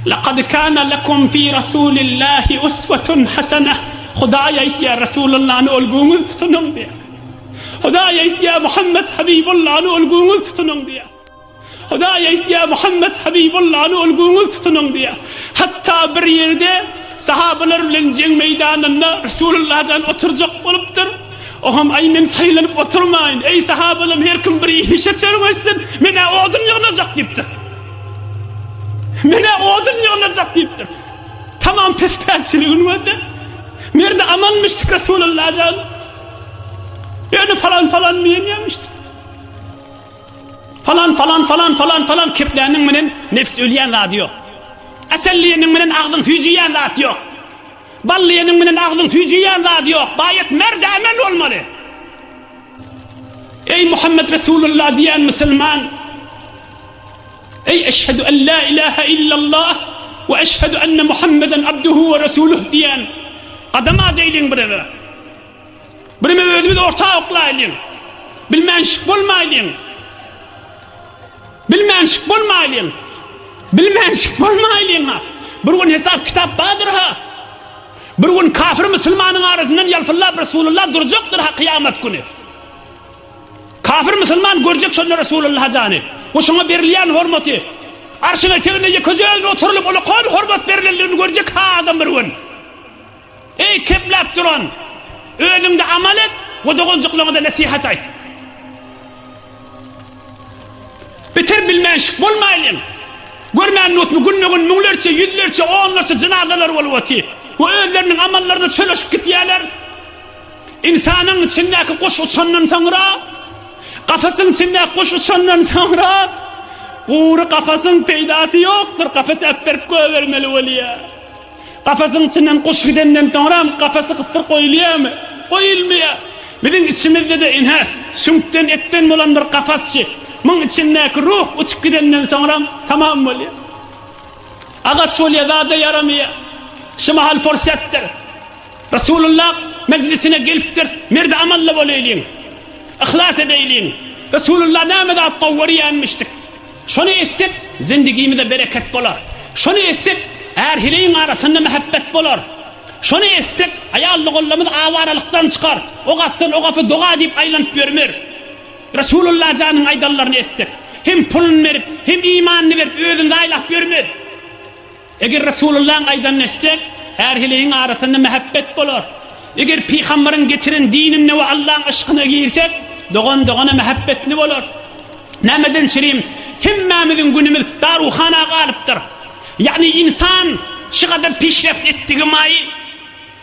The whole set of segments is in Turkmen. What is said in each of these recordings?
Lakad kana lekum fi Rasulillahi uswatun hasanah. Hudaý aýtýar, Rasulullany ölgüňiz tutunyň diýýär. Hudaý aýtýar, Muhammed Habibullany ölgüňiz tutunyň diýýär. Hudaý aýtýar, Muhammed Habibullany ölgüňiz tutunyň diýýär. Hatda bir ýerde sahabalar bilen jeň meýdanynda Resulullah jan oturjak bolupdyr. Oham, aý men saýlanyp oturmaýyn. Eý sahabalarym, her kim bir işe çöregeşsin. Men-ä odun ýygnajak diýipdir. Menä odun ýygnajak diýipdir. Tamam pespälçiligini gördi. Merdi amanmyşdyk Resulalla jan. Ýöne falan falan diýenýärmişdik. Falan falan falan falan falan kepläniň menen nefs ölýän zady ýok. Asal diýeniň menen agzyň süýjüýän zat ýok. Bal diýeniň menen agzyň süýjüýän zady ýok. Baýat merdi aman bolmaly. Eý Muhammet Resulalla diýen musulman. Eý eşhedü en la ilahe illallah we eşhedü enne Muhammeden abduhu we resuluh diýen gadam adaylyň birege. Birime özümiz orta oklaýlyň. Bilmänşik bolmaýlyň. Bilmänşik bolmaýlyň. Bilmänşik bolmaýlyň ha. Bir gün hesap kitap bardyr ha. Bir gün kafir musulmanyň arasyndan ýalpyllap Resulullah durjakdyr ha kyýamat güni. Kafir musulman görjek şonda Resulullaha jany we şoňa berilýän hormaty. Arşyň eteginde ýekejeň oturylyp ola hor-hormat berilendigini görjek ha adam bir gün. Eý kepläp duran! Özüňde amal et we doganjyklaňyza nesihat aýt. Beter bilmänşik bolmaýlyň! Görmän nutmy günbe-gün müňlerçe, ýüzlerçe, onlarça jynazalary bolup otyr we özleriniň amallaryna çöleşip gitýärler. Ynsanyň içindäki guş uçandan soňra, kafasyň içindäki guş uçandan soňra, gury kafasyň peýdasy ýokdur, kafasy äpberip goýbermeli bolýar. Kafasyň içinden guş gidenden soňram, kafasy gysdyryp goýulýarmy? Goýulmaýar. Biziň içimizde-de ine, süňkden, etden bolan bir kafasçy, muň içindäki ruh uçup gidenden soňram, tamam bolýar. Agaç bolýar, zada ýaramaýar. Şu mahal pursatdyr. Resulullah mejlisine gelipdir. Merdi amally bolaýlyň. Yhlas edeýliň. Resulullah näme zat gowy görýänmişdik. Şony etsek, zendigimize bereket bolar. Şony etsek, är-heleýiň arasynda mähebbet bolar. Şony etsek, aýal-ogullymyz awaralykdan çykar, ok atdan ok apy doga diýip aýlanyp ýörmer. Resulullah janyň aýdanlaryny etsek, hem puluny berip, hem imanyny berip özüni zaýlap ýörmer. Eger Resulullahyň aýdanyny etsek, härhiligiň arasynda mähebbet bolar. Eger Pygambaryň getiren dinine we Allahyň yşkyna girsek, dogan dogana mähebbetli bolar. Nämeden çirim, hemmämiziň günümiz daruhana galypdyr. Ýagny ynsan şugadar pişreft etdigi maýy.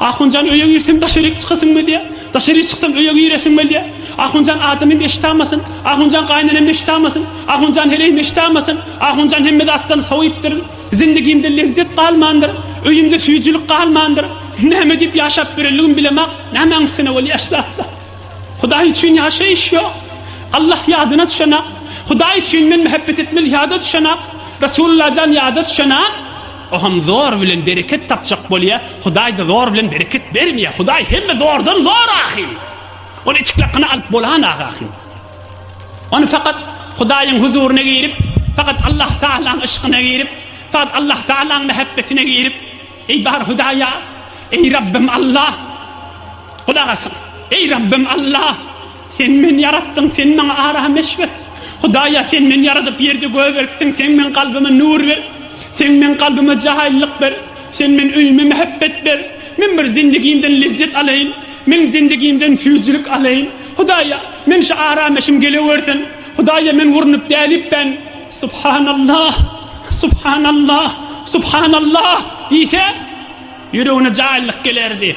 Ahunjan öýe girsem daşaryk çykasym gelýär. Daşaryk çyksam öýe giresim gelýär. Ahunjan adamym eşit amasyn. Ahunjan gaýnenem eşit amasyn. Ahunjan heleýim eşit amasyn. Ahunjan hemme zatdan sowypdyryn. Zindigimde lezzet galmandyr. Öýümde süýjülik galmandyr. Näme diýip ýaşap ýörenligim bilemok. Nämäň üstüne bolýar şu zatlar. Hudaý üçin ýaşaýyş ýok. Allah ýadyna düşenok. Hudaý üçin men mähebet etmeli ýada düşenok. Resullajan ýada düşenok. O ham zor bilen bereket tapjak bolýa, Hudaýda zor bilen bereket bermýä, Hudaý hemme zordan zor ahyn. Ony içki lakyna alyp bolan agy ahyn. Ony fakat Hudaýyň huzuryna girip, fakat Allah Taalaň yşkyna girip, fakat Allah Taalaň mehebbetine girip, eý bar Hudaýa, eý Rabbim Allah, Hudagasyn, eý Rabbim Allah, Sen meni ýaratdyň, sen maňa ara-hmeş ber. Hudaýa, sen meni ýaradyp, ýerde göz beripsiň, sen meň kalbyma nur ber. Sen meň kalbyma jaýylyk ber. Sen men öýüme mähebbet ber. Men bir zindigimden lezzet alaýyn. Men zindigimden süýjülik alaýyn. Hudaýa, men şu ara-hmeşim gelewersin. Hudaýa, men urnup dälip ben. Subhanallah! Subhanallah! Subhanallah! diýse, ýüregine jaýylyk gelerdi.